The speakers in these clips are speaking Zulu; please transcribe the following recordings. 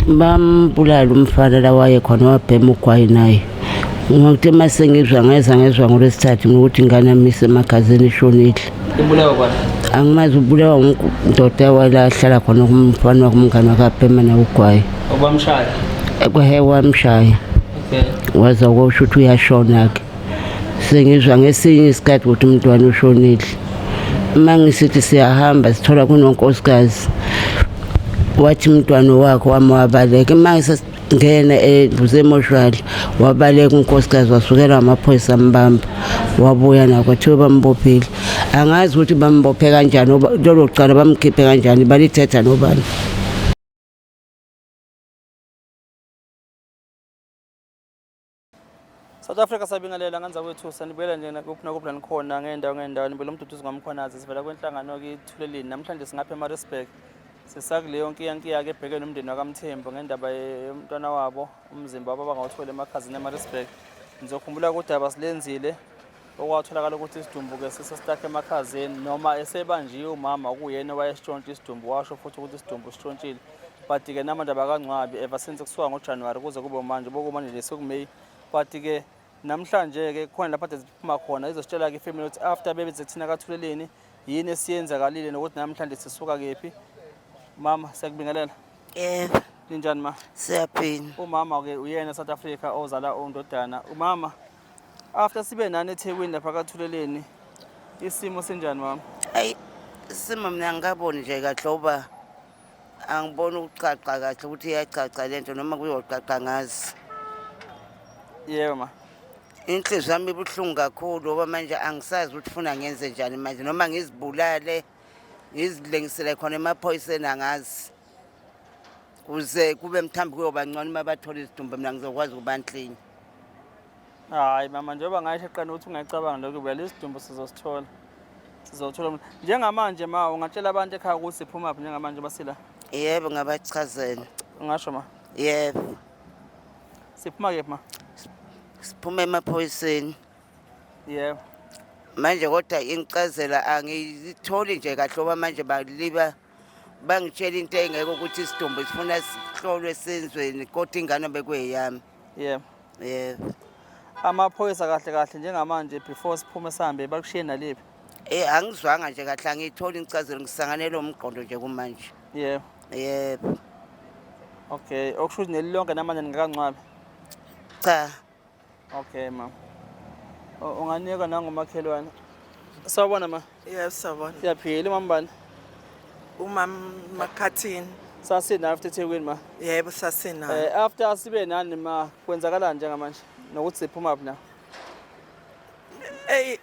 bambulala umfana la wayekhona wabhema ugwayi naye ngokuthe uma sengizwa ngeza ngezwa ngolwesithathu ngokuthi ingane yami isemagazini ishonile ibulawa kwani angimazi ubulawa ndoda wala ahlala khona kumfana wakumngane wakabhema naye ugwayi obamshaya ekwehe wamshaya okay waza kusho ukuthi uyashona-ke sengizwa ngesinye isikhathi ukuthi umntwana ushonile uma ngisithi siyahamba sithola kunonkosikazi wathi umntwana wakho wami wabaleka uma ngisengena eduze emoshwali wabaleka unkosikazi wasukela amaphoyisa ambamba wabuya nako thiwe bambophile angazi ukuthi bambophe kanjani lolo cala bamkhiphe kanjani balithetha nobani South Africa sabingelela ngenza kwethu sanibuyela nje kuphi nakuphi la nikhona ngeendawo ngeendawo nibuyela umduduzi ngwamkhwanazi sivela kwenhlangano kithulelini namhlanje singapha emarisburg sisakuleyo nkiyankiya-ke ebheke nomndeni wakamthembu ngendaba yomntwana wabo umzimba wabo abangawutholi emakhazini emarisburg ngizokhumbula ukuthi abasilenzile okwatholakala ukuthi isidumbu-ke sisestakhe emakhazeni noma esebanjiwe umama okuyena owayesitshontsha isidumbu washo futhi ukuthi isidumbu sitshontshile but-ke namanje abakangcwabi ever since kusuka ngojanuwari kuze kube manje bokumanje nje sekumeyi but-ke namhlanje-ke khona lapho ade ziphuma khona izositshela-ke ifamily ukuthi after bebe zekuthina kathuleleni yini esiyenzakalile nokuthi namhlanje sisuka kephi mama siyakubingelela yebo ninjani ma siyaphila umama-ke uyena south africa ozala undodana umama After sibe nani eThekwini lapha kaThuleleni isimo senjani mama? Ayi sima mina angikaboni nje kahle uba angiboni ukucaca kahle ukuthi iyacaca le nto noma kuyocaca ngazi. Yebo ma. Inhliziyo yami ibuhlungu kakhulu ngoba manje angisazi ukuthi funa ngenze njani manje noma ngizibulale ngizilengisele khona emaphoyiseni angazi. kuze kube mthambi kuyoba ngcono uma bathola izidumbu mina ngizokwazi ukuba nhlinye hayi mama njengoba ngasho qana ukuthi ungayicabanga lokho vele isidumbu sizosithola sizothola mna njengamanje ma ungatshela abantu ekhaya ukuthi siphuma phi njengamanje basila yebo ngabachazela ungasho ma yebo siphuma kephi ma siphuma emaphoyiseni yebo manje kodwa ingicazela angiyitholi nje kahle oba manje baliba bangitshela into engeke ukuthi isidumbu sifuna sihlolwe senzweni kodwa ingane bekuyeyami yebo yebo amaphoyisa kahle kahle njengamanje before siphume sihambe bakushiye naliphi Eh angizwanga nje kahle angiyitholi incazelo ngisanganele umgqondo nje kumanje. Yebo. Yebo. Okay, okusho ukuthi nelilonke namanje ningakancwabi. Cha, Okay ma. U- Unganikwa nangomakhelwane. Sawubona ma. Yebo sawubona. Siyaphila umama bani? Umama Makhathini. Sasina after Thekwini ma. Yebo sasina. Eh after sibe nani ma kwenzakalani njengamanje? Nokuthi siphuma phi na? Ey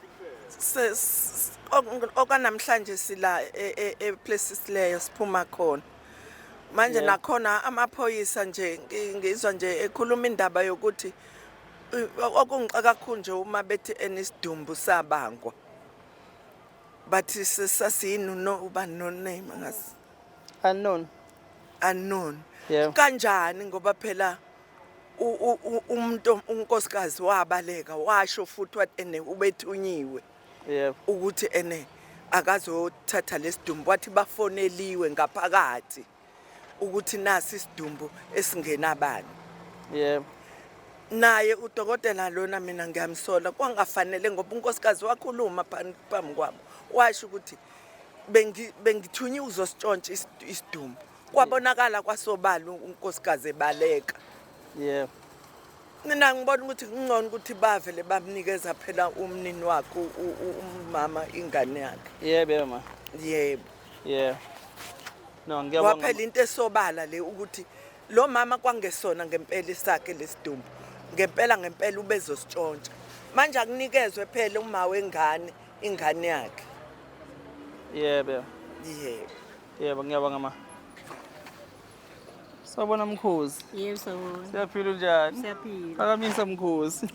ses- ok- okanamhlanje sila e- e- e places leyo siphuma khona. manje nakhona amaphoyisa nje ngizwa nje ekhuluma indaba yokuthi okungixa kakhulu nje uma bethi enisidumbu sabangwa bathi sasiyini no uba no name ngazi unknown unknown kanjani ngoba phela umuntu unkosikazi wabaleka washo futhi wathi ene ubethunyiwe yep. ukuthi ene akazothatha lesidumbu wathi bafoneliwe ngaphakathi ukuthi nasi isidumbu esingenabani yep. naye udokotela lona mina ngiyamsola kwangafanele ngoba unkosikazi wakhuluma phambi kwabo washo ukuthi bengithunywe uzositshontsha isidumbu kwabonakala kwasobala unkosikazi ebaleka yebo mina ngibona ukuthi kungcono ukuthi bavele bamnikeza phela umnini wakhe umama ingane yakhe yebo yebo ma yebo yebo no ngiyabonga waphela into esobala le ukuthi lo mama kwangesona ngempela isakhe lesidumbu ngempela ngempela ubezositshontsha manje akunikezwe phela uma wengane ingane yakhe yebo yebo Yebo ngiyabonga ma. Sawubona mkhosi. Yebo sawubona. Siyaphila unjani? Siyaphila. Phakamisa mkhosi.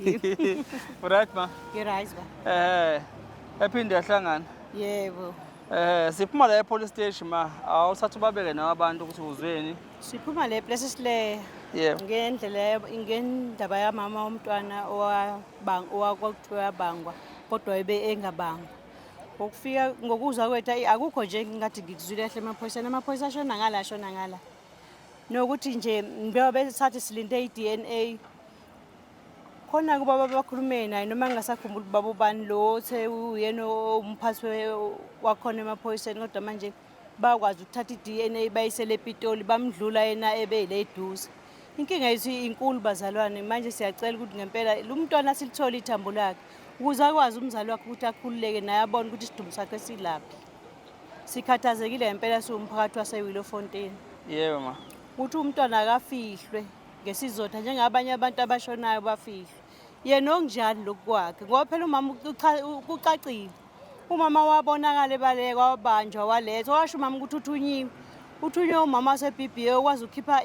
Right ma? You're right ba. Eh. Ephinde yahlangana. Yebo. Eh siphuma la epolice station ma. Awusathi ubabeke nawe abantu ukuthi uzweni. Siphuma le place sile. Yebo. Ngendlela ngendaba yamama womntwana owabang owakuthiwa yabangwa kodwa ebe engabangwa. ngokufika ngokuzwa kwethu ayi akukho nje ngingathi ngikuzwile kahle emaphoyiseni amaphoyisa ashona ngala ashona ngala nokuthi nje njengoba besathi silinde i-d n a khona kubaba bakhulume naye noma ngingasakhumbuli ubaba ubani lo othe uyena umphathi wakhona emaphoyiseni kodwa manje bakwazi ukuthatha i-dna bayisele epitoli bamdlula yena ebe le eduze inkinga yethu inkulu bazalwane manje siyacela ukuthi ngempela lo mntwana silithole ithambo lakhe ukuze akwazi umzali wakhe ukuthi akhululeke naye abone ukuthi isidumbu sakhe silaphi sikhathazekile ngempela siwumphakathi wasewilo fontein yebo ma ukuthi umntwana akafihlwe ngesizotha njengabanye abantu abashonayo bafihlwe yena okunjani lokukwakhe ngoba phela umama kucacile umama wabonakala ebaleka wabanjwa walethwa washo umama ukuthi uthunyiwe uthunywe umama wasebba okwazi ukukhipha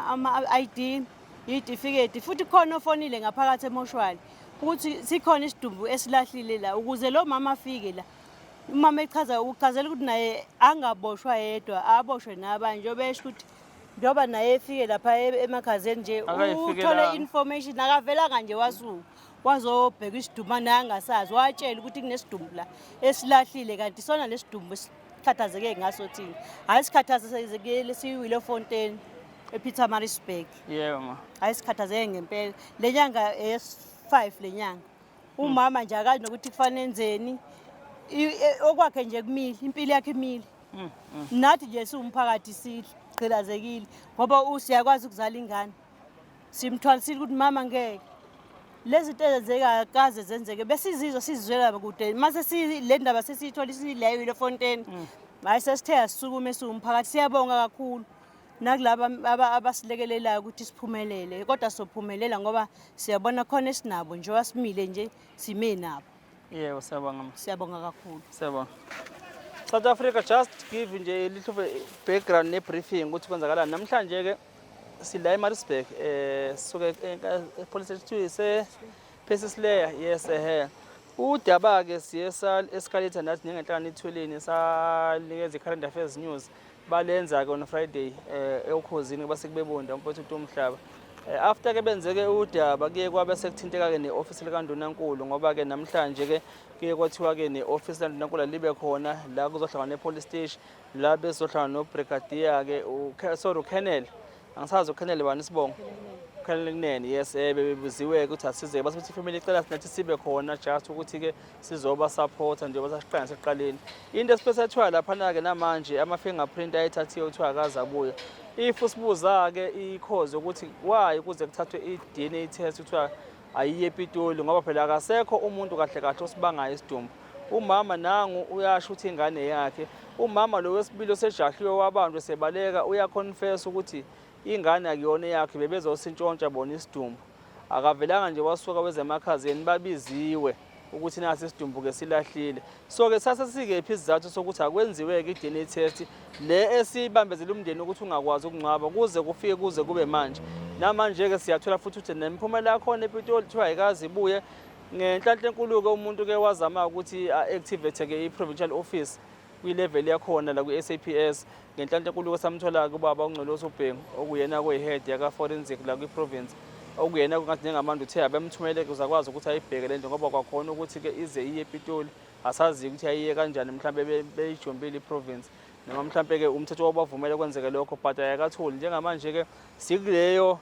ama-i d yitifiketi futhi khona ofonile ngaphakathi emoshwali ukuthi sikhona isidumbu esilahlile la ukuze lo mama afike la umama echaza ukuchazela ukuthi naye angaboshwa yedwa aboshwe nabanye njengoba esho ukuthi njengoba naye efike lapha e-, emakhazeni nje uthole i-information akavelanga nje wasuka wazobheka isidumbu naye angasazi watshela ukuthi kunesidumbu la esilahlile kanti isona lesidumbu esikhathazeke ngaso thina hhayi sikhathazekele siyiwile efonteni epeter marisburg yebo ma hhayi sikhathazeke ngempela le nyanga eyes-five le nyanga umama nje akazi nokuthi kufanele enzeni I- e- okwakhe nje kumile impilo yakhe imile Mm, mm. nathi nje siwumphakathi sidla gqilazekile ngoba u- siyakwazi ukuzala ingane simthwalisile ukuthi mama ngeke lezi zinto ezenzeka kaze zenzeke besizizwa sizizwela kude mase sile ndaba sesiyithola isileyo ile fontaine mm. hayi sesithe asisukume esiwumphakathi siyabonga kakhulu nakulaba abasilekelelayo ukuthi siphumelele kodwa sophumelela ngoba siyabona khona esinabo njengoba simile nje sime nabo Yebo, siyabonga ma. Siyabonga kakhulu. Siyabonga. South Africa just give nje little background ne briefing ukuthi kwenzakalani. Namhlanje ke sila eMaritzburg eh suke eh, eh, police station se Persis Layer yes eh. Udaba ke siye sa escalator nathi nengenhlanga nithweleni sanikeza i current affairs news. balenza-ke on friday um eukhozini kuba sekubebonda umfowethu utu umhlaba Eh, after ke benzeke udaba kuye kwabe sekuthinteka-ke ne-ofisi likandunankulu ngoba-ke namhlanje-ke kuye kwathiwa-ke ne-ofisi likandunankulu alibe khona la kuzohlangana ne-police station la bezohlangana nobrigadier-ke sorry ukenel angisazi ukhenele bani isibongo ukhenele kunene yes eh bebebuziwe ukuthi asizeke base ukuthi family icela sinathi sibe khona just ukuthi ke sizoba support njengoba sasiqala seqaleni into esiphethathwa lapha na ke namanje ama fingerprint ayithathiwe uthiwa akaza buya if usibuza ke ikhozi ukuthi why kuze kuthathwe i DNA test uthiwa ayiye ePitoli ngoba phela akasekho umuntu kahle kahle osibangayo isidumbu umama nangu uyasho ukuthi ingane yakhe umama lo wesibili osejahliwe wabanjwe sebaleka uyaconfess ukuthi ingane akuyona yakhe bebezosintshontsha bona isidumbu akavelanga nje wasuka wezemakhazeni babiziwe ukuthi nasi isidumbuke silahlile so ke sase sikephi isizathu sokuthi akwenziwe-ke i-dna test le esibambezela umndeni ukuthi ungakwazi ukungcwaba kuze kufike kuze kube manje namanje-ke siyathola futhi ukuthi nemiphumela yakhona epitoli kuthiwa ayikazi ibuye ngenhlanhla enkulu-ke umuntu-ke wazama ukuthi a-activate-ke i-provincial office kwilevel yakhona la kwi-saps ngenhlanhla enkuluko samthola-ke ubaba ungcolosi ubhengu okuyena kuyihead yaka-forensic la kwi-province okuyena kungathi njengamanje uthe abemthumele uzakwazi ukuthi ayibheke le nto ngoba kwakhona ukuthi-ke ize iye epitoli asazi ukuthi ayiye kanjani mhlawumbe beyijombile iprovince noma mhlawumbe-ke umthetho wabavumela kwenzeke lokho but ayakatholi njengamanje-ke sikuleyo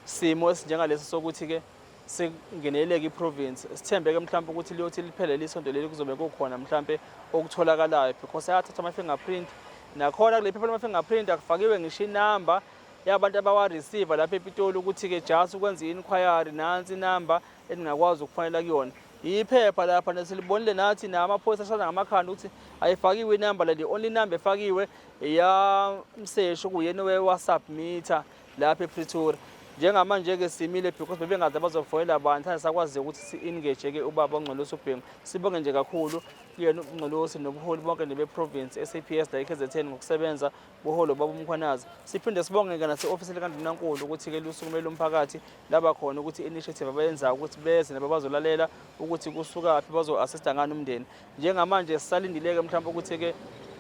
simo esinjengalesi sokuthi-ke singeneleke iprovince sithembeke mhlawumbe ukuthi liyothi liphele lisonto leli kuzobe kukhona mhlawumbe okutholakalayo because ayathatha ama-fingerprint nakhona kule phepha lama-fingerprint akufakiwe ngisho inamba yabantu abawareceiva lapha epitoli ukuthi-ke just ukwenza i-inquiry nansi inamba eningakwazi ukufanela kuyona yiphepha lapha nesilibonile nathi namaphoyisa ashana ngamakhanda ukuthi ayifakiwe inamba leli only inamba efakiwe eyamsesho kuyena wewasubmitha lapha epretoria njengamanje-ke simile because bebengazi abazofonela abantu thanda sakwazi ukuthi si-engage-ke ubaba ongcolosi ubhengu sibonge nje kakhulu kuyena ungcolosi nobuholi bonke nebeprovince i-saps la i-kzn ngokusebenza buholo baba umkhwanazi siphinde sibonge-ke nase-ofisi likandunankulu ukuthi-ke lusukumele umphakathi laba khona ukuthi i-initiative abayenzayo ukuthi beze nababazolalela ukuthi kusukaphi bazo-assista ngani umndeni Njengamanje sisalindileke mhlawumbe ukuthi-ke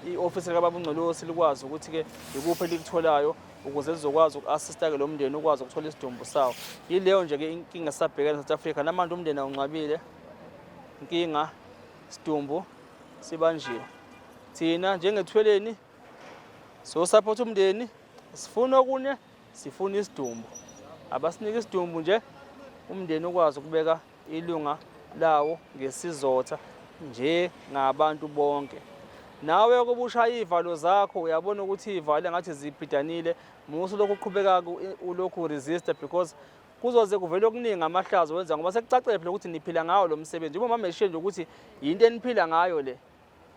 i-ofisi likababa uNgcolosi likwazi ukuthi-ke yikuphi elikutholayo ukuze lizokwazi uku-assista-ke lo mndeni ukwazi ukuthola isidumbu sawo yileyo nje-ke inkinga esisabhekene south africa namanje umndeni awunqabile inkinga sidumbu sibanjiwe thina njengethweleni sosaphotha umndeni sifuna okunye sifuna isidumbu abasinike isidumbu nje umndeni ukwazi ukubeka ilunga lawo ngesizotha nje ngabantu bonke nawe ukuba ushaya iy'valo zakho uyabona ukuthi iy'valo engathi zibhidanile musa ulokhu uqhubeka ulokhu uresista because kuzoze kuvele okuningi amahlazo wenza ngoba sekucacele phela ukuthi niphila ngawo lo msebenzi uma mameshiye nje ukuthi yinto eniphila ngayo le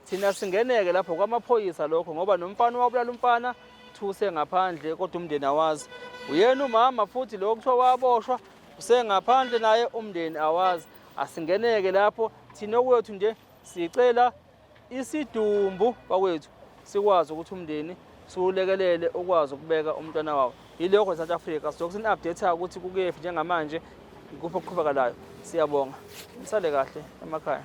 Thina singeneke lapho kwamaphoyisa lokho ngoba nomfana wabulala umfana thuse ngaphandle kodwa umndeni awazi. Uyena umama futhi lo kuthiwa waboshwa usengaphandle naye umndeni awazi. Asingeneke lapho thina okwethu nje sicela isidumbu bakwethu sikwazi ukuthi umndeni siwulekelele ukwazi ukubeka umntwana wawo. Yilokho eSouth Africa sizoke sini-update-a ukuthi kukephi njengamanje ikuphi okuqhubekalayo. Siyabonga. Nisale kahle emakhaya.